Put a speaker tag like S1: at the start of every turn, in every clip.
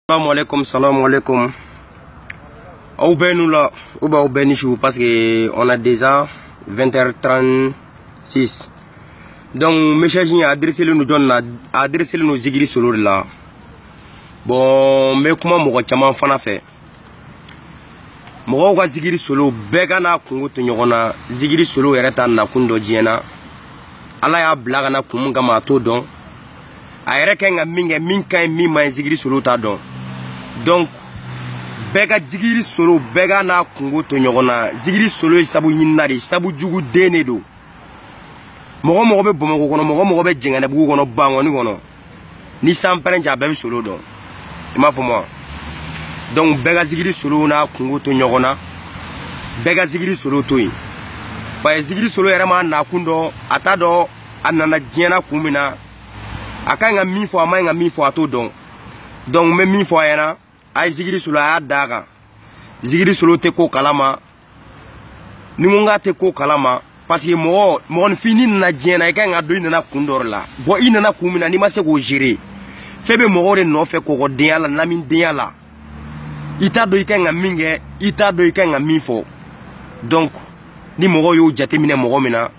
S1: salamu alaikum salamu alaikum aw bɛɛ ni wula ou bien aw bɛɛ ni su parce que on a déjà 20h36 donc message in a adressé len don jɔni na a adressé len don zigiri solo de la bon n bɛ kuma mɔgɔ caman fana fɛ mɔgɔw ka zigiri solo bɛɛ ka n'a kungo to ɲɔgɔn na zigiri solo yɛrɛ t'a nakun dɔn diɲɛ na ala y'a bila ka na kun min kama a t'o dɔn a yɛrɛ ka ɲi ka min kɛ min ka ɲi min man ɲi zigiri solo t'a dɔn donc bɛɛ ka zigiri solo bɛɛ ka n'a kungo to ɲɔgɔn na zigiri solo ye sabu ɲinina de ye sabu jugu den de don mɔgɔ o mɔgɔ bɛ bamakɔ kɔnɔ mɔgɔ o mɔgɔ bɛ janginɛbugu kɔnɔ bankɔni kɔnɔ ni san pɛrɛn cɛ a bɛɛ bɛ solo dɔn i m'a faamu wa donc bɛɛ ka zigiri solo n'a kungo to ɲɔgɔn na bɛɛ ka zigiri solo to yen parce que zigiri solo yɛrɛ m'a nakun dɔn a t'a dɔn a nana diɲɛ na kun min na a ka ɲi ka min fɔ a man ɲi ka min fɔ a t'o dɔn donc n bɛ min fɔ a ɲɛna a ye zigiri solo a y'a da a kan zigiri solo tɛ ko kalama ni ko n k'a tɛ ko kalama parce que mɔgɔ mɔgɔninfin n'i nana diɲɛ na i ka ɲi k'a dɔn i nana kun dɔ de la bon i nana kun min na n'i ma se k'o gérer f'i bɛ mɔgɔw de nɔfɛ kɔgɔdenya la lamidenya la i t'a dɔn i ka ɲi ka min kɛ i t'a dɔn i ka ɲi ka min fɔ donc ni mɔgɔw y'o jateminɛ mɔgɔ min na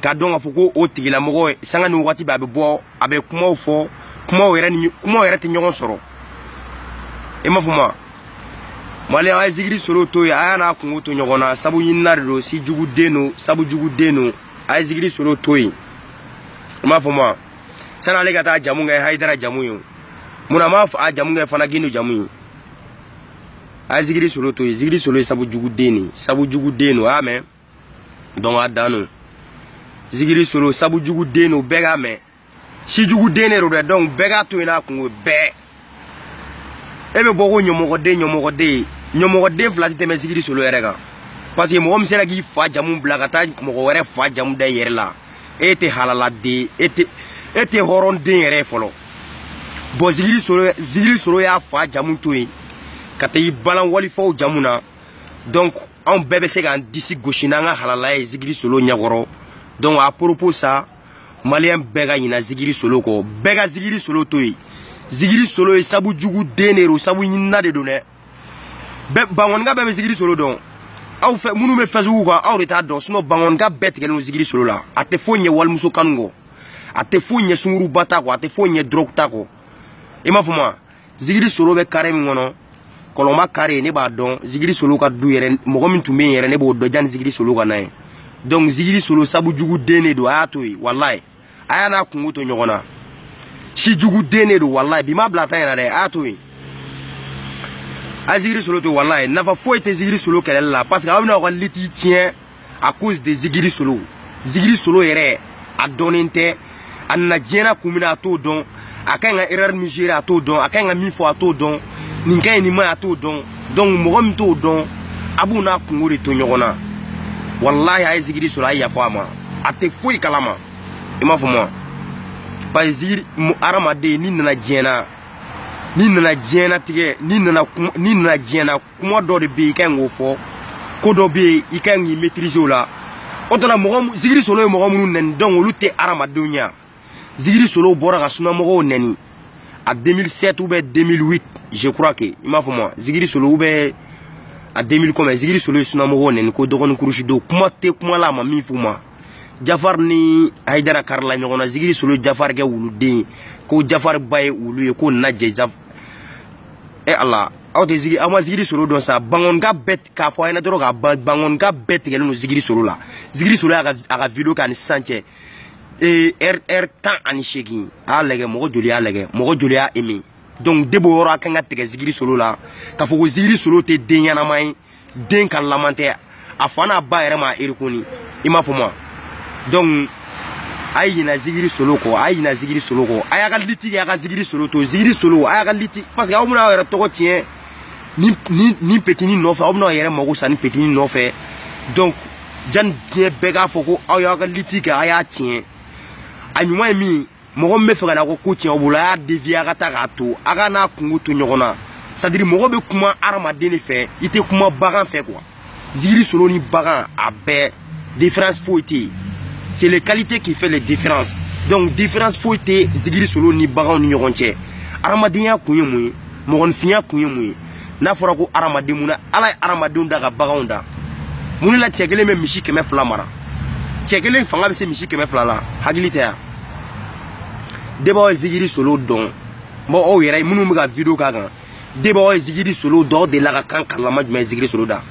S1: k'a dɔn k'a fɔ ko o tigilamɔgɔ sanga ni wagati bɛɛ a bɛ bɔ a bɛ kumaw fɔ kumaw yɛrɛ ni kumaw yɛrɛ tɛ ɲɔgɔn sɔrɔ i m'a faamu wa mali a ye zigiri solo to yen a y'a n'a kungo to ɲɔgɔn na sabu ɲinina de don si jugu den don sabu jugu den don a ye zigiri solo to yen i m'a faamu wa sani ale ka taa a jamu kɛ hayidara jamu ye mun na a m'a fa jamu kɛ fana gindo jamu ye a ye zigiri solo to yen zigiri solo ye sabu jugu den de ye sabu jugu den don a y'a mɛn donc a dan don zigiri solo sabu jugu den don bɛɛ k'a mɛn si jugu den de don dɛ donc bɛɛ k'a to yen n'a kungo bɛɛ e bɛ bɔ ko ɲamɔgɔden ɲamɔgɔden ɲamɔgɔden fila tɛ tɛmɛ zigiri solo yɛrɛ kan parce que mɔgɔ min sera k'i fa jamu bila ka taa mɔgɔ wɛrɛ fa jamu da i yɛrɛ la e tɛ halaladen e tɛ e tɛ hɔrɔnden yɛrɛ ye fɔlɔ bon zigiri solo zigiri solo y'a fa jamu to yen ka taa i balan walifaw jamu na donc anw bɛɛ bɛ se k'an disi gosi n'an ka halala ye zigiri solo ɲɛkɔrɔ donc à propos ça maliyɛn bɛɛ ka ɲina zigiri solo kɔ bɛɛ ka zigiri solo to yen zigiri solo ye sabu jugu den de don sabu ɲinina de don dɛ bɛɛ bankɔnika bɛɛ bɛ zigiri solo dɔn aw fɛn minnu bɛ facebook kan aw de t'a dɔn sinon bankɔnika bɛɛ tigɛlen don zigiri solo la a tɛ foyi ɲɛ walimuso kanu kɔ a tɛ foyi ɲɛ sunguruba ta kɔ a tɛ foyi ɲɛ dɔrɔgu ta kɔ i m'a faamu wa zigiri solo bɛ kare min kɔnɔ kɔlɔnba kare ne b'a dɔn zigiri solo ka du yɛrɛ mɔgɔ min tun bɛ yen yɛrɛ ne b'o dɔn jani zigiri solo ka na ye donc zigiri solo sabu jugu den de don a y'a to yen walayi a y'a n'a kungo to ɲɔgɔn na si jugu den de don walayi bi ma bila tan yɛrɛ dɛ a y'a to yen a zigiri solo to walayi nafa foyi tɛ zigiri solo kɛlɛli la parce que aw bɛna aw ka liti tiɲɛ à cause de zigiri solo zigiri solo yɛrɛ a dɔnnen tɛ a nana diɲɛna kun min a t'o dɔn a ka kan ka erreur min gérer a t'o dɔn a ka kan ka min fɔ a t'o dɔn nin ka ɲi nin ma a t'o dɔn donc mɔgɔ min t'o dɔn a b'o n'a kungo de to ɲɔgɔn na walayi a ye zigiri solo a ye yafa a ma a tɛ foyi kalama i m'a faamu wa parce que zigiri hadamaden n'i nana diɲɛna n'i nana diɲɛnatigɛ n'i nana n'i nana diɲɛna kuma dɔ de bɛ yen i ka kan k'o fɔ ko dɔ bɛ yen i ka kan k'i maîtriser o la o tɔ la mɔgɔ zigiri solo ye mɔgɔ minnu nɛni donc olu tɛ hadamadenw ye wa zigiri solo bɔra ka sunamɔgɔw nɛni a 2007 ou bien 2008 je crois que i m'a faamu wa zigiri solo ou bien a 2000 kɔmɛ zigiri solo ye sunamɔgɔw nɛni ko dɔgɔnin kurusi don kuma tɛ kuma la a ma min f'u ma jafar ni hayidara karila ɲɔgɔn na zigiri solo jafar kɛ wuluden ye ko jafar ba ye wulu ye ko nana jɛ jaf e ala aw tɛ zigi aw ma zigiri solo dɔn sa bankonika bɛɛ k'a fɔ a ɲɛna dɔrɔn ka ban bankonika bɛɛ tigɛlen don zigiri solo la zigiri solo y'a ka a ka video kɛ ani sisan cɛ ee ɛri ɛri tan ani seegin a y'a lagɛ mɔgɔ joli y'a lagɛ mɔgɔ joli y'a emi donc depuis o yɔrɔ a kan ka tigɛ zigiri solo la k'a fɔ ko zigiri solo tɛ den ɲɛnama ye den ka laman tɛ a fa n'a ba yɛrɛ m'a erikoni i m'a faamu wa donc a ye ɲina zigiri solo kɔ a ye ɲina zigiri solo kɔ a y'a ka liti kɛ a ka zigiri solo to zigiri solo a y'a ka liti parce que aw bɛna aw yɛrɛ tɔgɔ tiɲɛ ni ni ni petini nɔfɛ aw bɛna aw yɛrɛ mago sa ni petini nɔfɛ donc jani diɲɛ bɛɛ k'a fɔ ko aw y'aw ka liti kɛ a y'a tiɲɛ a ɲuman ye min ye mɔgɔ min b'a fɛ ka na ko ko tiɲɛ bolo a y'a dévier a ka taa k'a to a ka n'a kungo to ɲɔgɔn na c'est à dire mɔgɔ bɛ kuma hadamaden de fɛ i tɛ kuma bagan fɛ quoi zigiri solo ni bagan a bɛɛ différence foyi tɛ yen c'est les qualités qui fait les différences donc différence foyi tɛ zigiri solo ni baganw ni ɲɔgɔn cɛ hadamadenya kun ye mun ye mɔgɔninfinya kun ye mun ye n'a fɔra ko hadamaden mun na ala ye hadamadenw da ka baganw da mun de la cɛ kelen bɛ misi kɛmɛ fila mara cɛ kelen fanga bɛ se misi kɛmɛ fila la hakili tɛ wa depuis aw ye zigiri solo dɔn bon aw yɛrɛ minnu bɛ ka video k'a kan depuis aw ye zigiri solo dɔn aw delila ka kan karilama jumɛn ye zigiri solo da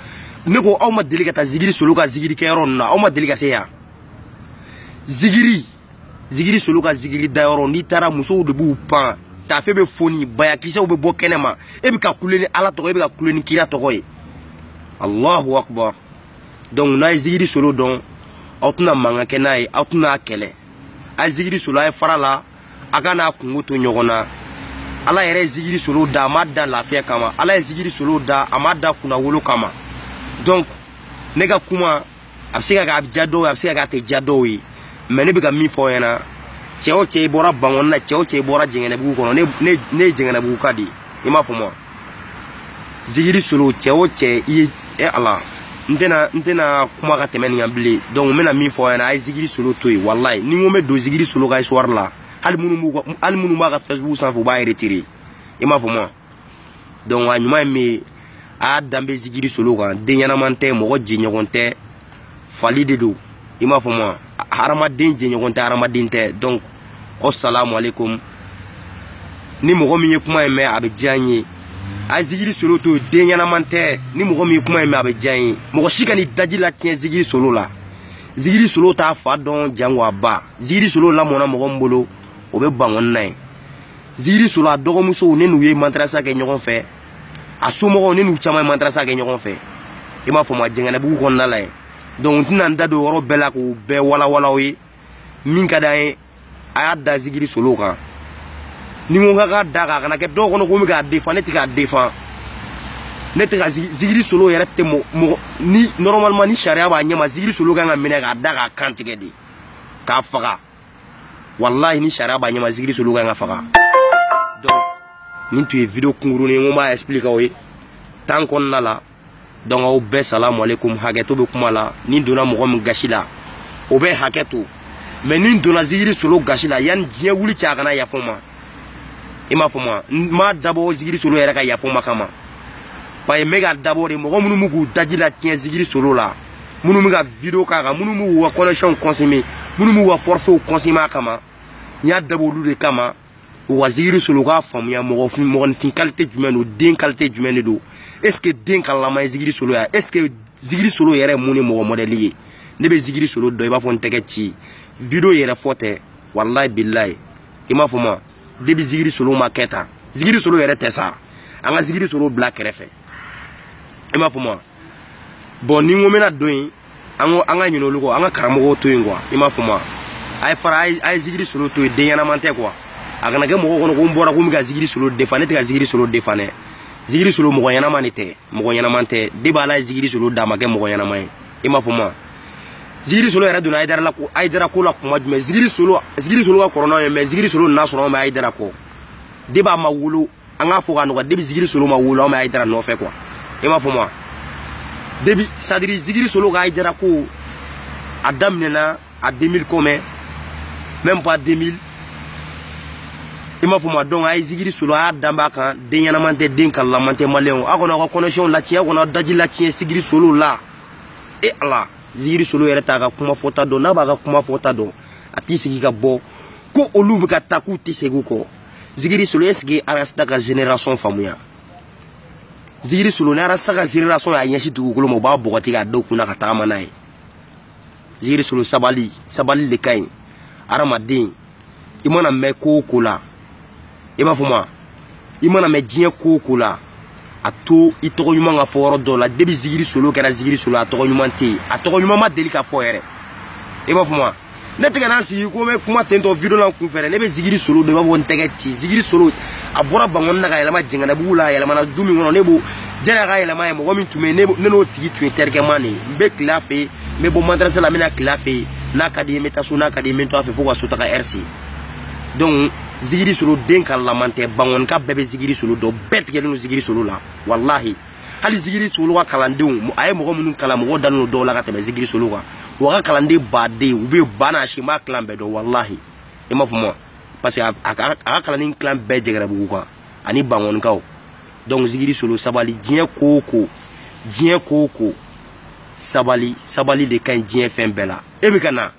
S1: ne ko aw ma deli ka taa zigiri solo ka zigiri kɛyɔrɔ ninnu na aw ma deli ka se yan zigiri zigiri solo ka zigiri dayɔrɔ n'i taara musow de b'u pan tafe bɛ foni bayakisɛw bɛ bɔ kɛnɛ ma e bɛ ka kule ni ala tɔgɔ e bɛ ka kule ni kira tɔgɔ ye allahu akbar donc n'a ye zigiri solo dɔn aw tɛna mankan kɛ n'a ye aw tɛna a kɛlɛ a ye zigiri solo a ye fara la a ka n'a kunko to ɲɔgɔn na ala yɛrɛ ye zigiri solo da a ma da lafiya kama ala ye zigiri solo da a ma da kunnawolo kama donc ne ka kuma a bɛ se ka kɛ a bɛ diya dɔw ye a bɛ se ka kɛ a tɛ diya dɔw ye mais ne bɛ ka min fɔ aw ɲɛna cɛ o cɛ i bɔra bangɔni na cɛ o cɛ i bɔra jɛngɛnɛbugu kɔnɔ ne ne ne ye jɛngɛnɛbuguka de ye i m'a fɔ ma zigiri solo cɛ o cɛ i ye e ala n tɛna n tɛna kuma ka tɛmɛ nin kan bilen donc n bɛna min fɔ aw ɲɛna a ye zigiri solo to yen walayi ni n ko n bɛ don zigiri solo ka histoire la hali minnu b'u hali minnu b'a ka facebook sanfɛ u b'a retirer i m'a fɔ ma donc a ɲuman ye min ye a y'a da bɔ zigiri solo kan den ɲɛnama tɛ mɔgɔ jɛɲɔgɔn tɛ fali de don i m'a faamuya hadamaden jɛɲɔgɔn tɛ hadamaden tɛ donc asalamu aleykum ni mɔgɔ min ye kuma in mɛn a bɛ diya n ye a ye zigiri solo to den ɲɛnaman tɛ ni mɔgɔ min ye kuma in mɛn a bɛ diya n ye mɔgɔ si kan'i daji latiɲɛ zigiri solo la zigiri solo t'a fa dɔn jango a ba zigiri solo lamɔna mɔgɔ min bolo o bɛ bangɔni na yen zigiri solo a dɔgɔmusow ne n'u ye madarasa kɛ ɲɔgɔn fɛ a somɔgɔw ne n'u caman ye madarasa kɛ ɲɔgɔn fɛ i m'a fɔ ma jɛngɛnɛbugu kɔnɔna la yen donc n tɛna n da don yɔrɔ bɛɛ la k'u bɛɛ walawala aw ye min ka d'an ye a y'a da zigiri solo kan ni n ko k'a da kan a kana kɛ dɔw kɔnɔ ko n bɛ k'a défend ne tɛ k'a défend ne tɛ ka zigiri solo yɛrɛ tɛ mɔgɔ ni normalement ni sariya b'a ɲɛma zigiri solo ka kan ka minɛ k'a da k'a kan tigɛ de k'a faga walahi ni sariya b'a ɲɛma zigiri solo kan ka faga donc nin tun ye video kunkurunin ye n ko n b'a expliquer aw ye tan kɔnɔna la donc aw bɛɛ salamu aleykum hakɛto bɛ kuma la ni donna mɔgɔ min gasi la o bɛ hakɛto mais ni donna zigiri solo gasi la yan ni diɲɛ wuli cɛ a kana yafa n ma i m'a fɔ ma n m'a dabɔ zigiri solo yɛrɛ ka yafa n ma kama parce que n bɛ ka dabɔ de mɔgɔ minnu bɛ k'u daji latiɲɛ zigiri solo la minnu bɛ ka video k'a kan minnu b'u ka connexionw consommer minnu b'u ka forfaitw consommer a kama n y'a dabɔ olu de kama u ka zigiri solo u k'a faamuya mɔgɔfin mɔgɔninfin qualité jumɛn don den qualité jumɛn de don est ce que den kalalama ye zigiri solo ya est ce que zigiri solo yɛrɛ mun ni mɔgɔ mɔdɛli ye ne bɛ zigiri solo dɔn i b'a fɔ n tɛgɛ ci video yɛrɛ fɔ tɛ walayi bilayi i m'a fɔ ma depuis zigiri solo ma kɛ tan zigiri solo yɛrɛ tɛ sa an ka zigiri solo bila kɛrɛfɛ i m'a fɔ ma bon ni n ko n bɛna don yen an ko an ka ɲinɛ olu kɔ an ka karamɔgɔw to yen quoi i m'a fɔ ma a ye fara a ye zigiri solo to yen den ɲɛnaman tɛ quoi a kana kɛ mɔgɔ kɔnɔ ko n bɔra ko n bɛ ka zigiri solo défend ne tɛ ka zigiri solo défend dɛ zigiri solo mɔgɔ ɲɛnama de tɛ mɔgɔ ɲɛnama tɛ depuis ala ye zigiri solo da a ma kɛ mɔgɔ ɲɛnama ye i m'a fɔ ma zigiri solo yɛrɛ donna hayidara la ko hayidara ko la kuma jumɛn zigiri solo zigiri solo ka kɔrɔ n'anw ye mais zigiri solo nan'a sɔrɔ anw bɛ hayidara kɔ depuis a ma wolo an k'a fɔ k'a nɔgɔya depuis zigiri solo ma wolo an bɛ hayidara nɔfɛ quoi i m'a faamu wa depuis c'est à dire zigiri solo ka hayidara ko a daminɛna a 2000 combien même pas 2000 i m'a faamu wa donc a ye zigiri solo a y'a danba kan den ɲɛnaman tɛ den kalaman tɛ maliyɛnw aw kana aw ka connexion latiɲɛ aw kana aw daji latiɲɛ zigiri solo la e eh, ala zigiri solo yɛrɛ t'a ka kuma fɔta dɔn n'a b'a ka kuma fɔta dɔn a t'i sigi ka bɔ ko olu bɛ ka taa k'u tɛ segin u kɔ zigiri solo est ce que arasta ka génération faamuya zigiri solo ni arasta ka génération y'a ɲɛsin dugukolo ma u b'a bɔgɔti k'a da u kunna ka tagama n'a ye zigiri solo sabali sabali le ka ɲi hadamaden i mana mɛn ko o ko la i m'a faamu wa i mana mɛn diɲɛ ko o ko la a to i tɔgɔ ɲuman ka fɔ yɔrɔ dɔ la depuis zigiri solo kɛra zigiri solo a tɔgɔ ɲuman tɛ yen a tɔgɔ ɲuman ma deli ka fɔ yɛrɛ i m'a faamu wa ne tɛ ka na n sigi ko n bɛ kuma ten tɔ video la n kun fɛ dɛ ne bɛ zigiri solo dɔn i b'a fɔ n tɛgɛci zigiri solo a bɔra bangɔni na ka yɛlɛma jɛngɛnɛbugu la a yɛlɛmana du min kɔnɔ ne b'o janni a ka yɛlɛma yen mɔgɔ min tun bɛ yen ne n'o tigi tun ye terikɛman de ye n bɛ tilen a fɛ yen n bɛ bɔ madarasa la n bɛ na tilen a fɛ yen n'a ka di n ye n bɛ taa so n'a ka di n ye n bɛ to a fɛ fo ka so taga heure se donc zigiri solo den kalaman tɛ bangɔnika bɛɛ bɛ zigiri solo dɔn bɛɛ tigɛlen don zigiri solo la walahi hali zigiri solo ka kalandenw a ye mɔgɔ minnu kalan mɔgɔw dalen don dɔw la ka tɛmɛ zigiri solo kan wa a ka kalanden baden u bɛ ba n'a si m'a kilan bɛɛ dɔn walahi i m'a faamu wa parce que a ka kalanden kilan bɛɛ jɛngɛnɛbugukaw ani bangɔnikaw donc zigiri solo sabali diɲɛ ko o ko diɲɛ ko o ko sabali sabali de ka ɲi diɲɛ fɛn bɛɛ la e bɛ ka na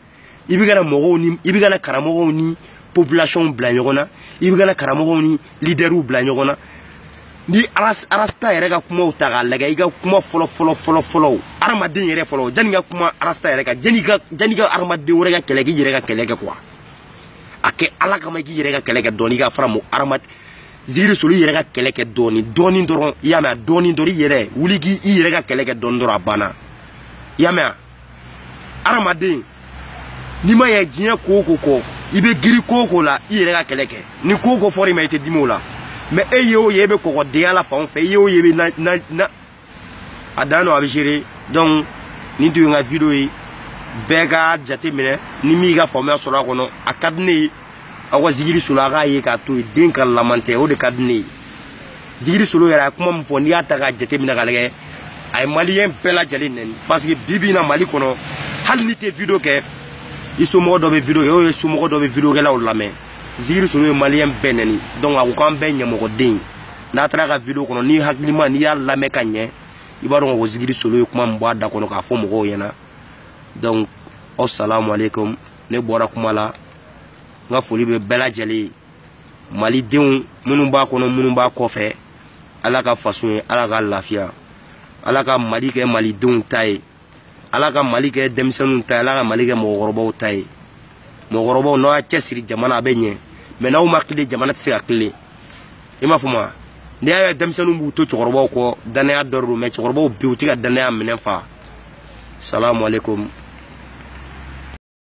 S1: i bɛ ka na mɔgɔw ni i bɛ ka na karamɔgɔw ni population bila ɲɔgɔn na i bɛ ka na karamɔgɔw ni leaders bila ɲɔgɔn na ni arasta yɛrɛ ka kumaw ta k'a lagɛ i ka kuma fɔlɔ fɔlɔ fɔlɔ fɔlɔw adamaden yɛrɛ fɔlɔ janni ka kuma arasta yɛrɛ kan janni ka janni ka adamaden wɛrɛ ka kɛlɛ k'i yɛrɛ ka kɛlɛ kɛ quoi a kɛ ala kama k'i yɛrɛ ka kɛlɛ kɛ dɔɔni ka fara mɔgɔ adamaden zigiri solo i yɛrɛ ka kɛlɛ kɛ dɔɔni dɔɔni dɔrɔn i y'a mɛn wa dɔɔni dɔrɔn i yɛrɛ wuli k'i yɛrɛ ka kɛlɛ kɛ dɔɔni dɔrɔn a banna i y'a mɛn wa adamaden n'i ma yɛ diɲɛ ko o ko kɔ i bɛ girin ko o ko la i yɛrɛ ka kɛlɛ kɛ ni ko o ko fɔra i ma i tɛ dimi o la mais e ye o ye e bɛ kɔkɔdenya la fan o fɛ i ye o ye i bɛ na na na a dan don a bɛ gérer donc nin tun ye n ka video ye bɛɛ ka jate minɛ ni min y'i ka faamuya sɔrɔ a kɔnɔ a ka di ne ye aw ka zigiri solo a k'a ye k'a to yen den kalaman tɛ o de ka di ne ye zigiri solo yɛrɛ a ye kuma min fɔ n'i y'a ta k'a jateminɛ k'a lagɛ a ye maliyɛn bɛɛ lajɛlen nɛni parce que bi bi in na mali kɔnɔ hali n'i tɛ video kɛ i somɔgɔ dɔ bɛ video kɛ ou i somɔgɔ dɔ bɛ video kɛlaw lamɛn zigiri solo ye maliyɛn bɛɛ nɛni donc a ko k'an bɛɛ ɲamɔgɔden n'i taara a ka video kɔnɔ n'i hakilima n'i y'a lamɛn ka ɲɛ i b'a dɔn ko zigiri solo ye kuma min bɔ a da kɔnɔ k'a fɔ mɔgɔw ɲɛna donc aw salamu aleykum ne bɔra kuma la n ka foli bɛ bɛɛ lajɛlen ye malidenw minnu b'a kɔnɔ minnu b'a kɔfɛ ala ka faso ye ala ka lafiya ala ka mali kɛ malidenw ta ye ala ka mali kɛ denmisɛnninw ta ye ala ka mali kɛ mɔgɔkɔrɔbaw ta ye mɔgɔkɔrɔbaw n'aw y'aw cɛsiri jamana a bɛ ɲɛ mɛ n'aw ma tilen jamana tɛ se ka tilen i m'a fɔ ma n'i y'a ye denmisɛnninw b'u to cɛkɔrɔbaw kɔ dannaya dɔ don mɛ cɛkɔrɔbaw bi u tɛ ka dannaya minɛn fa salamu aleykum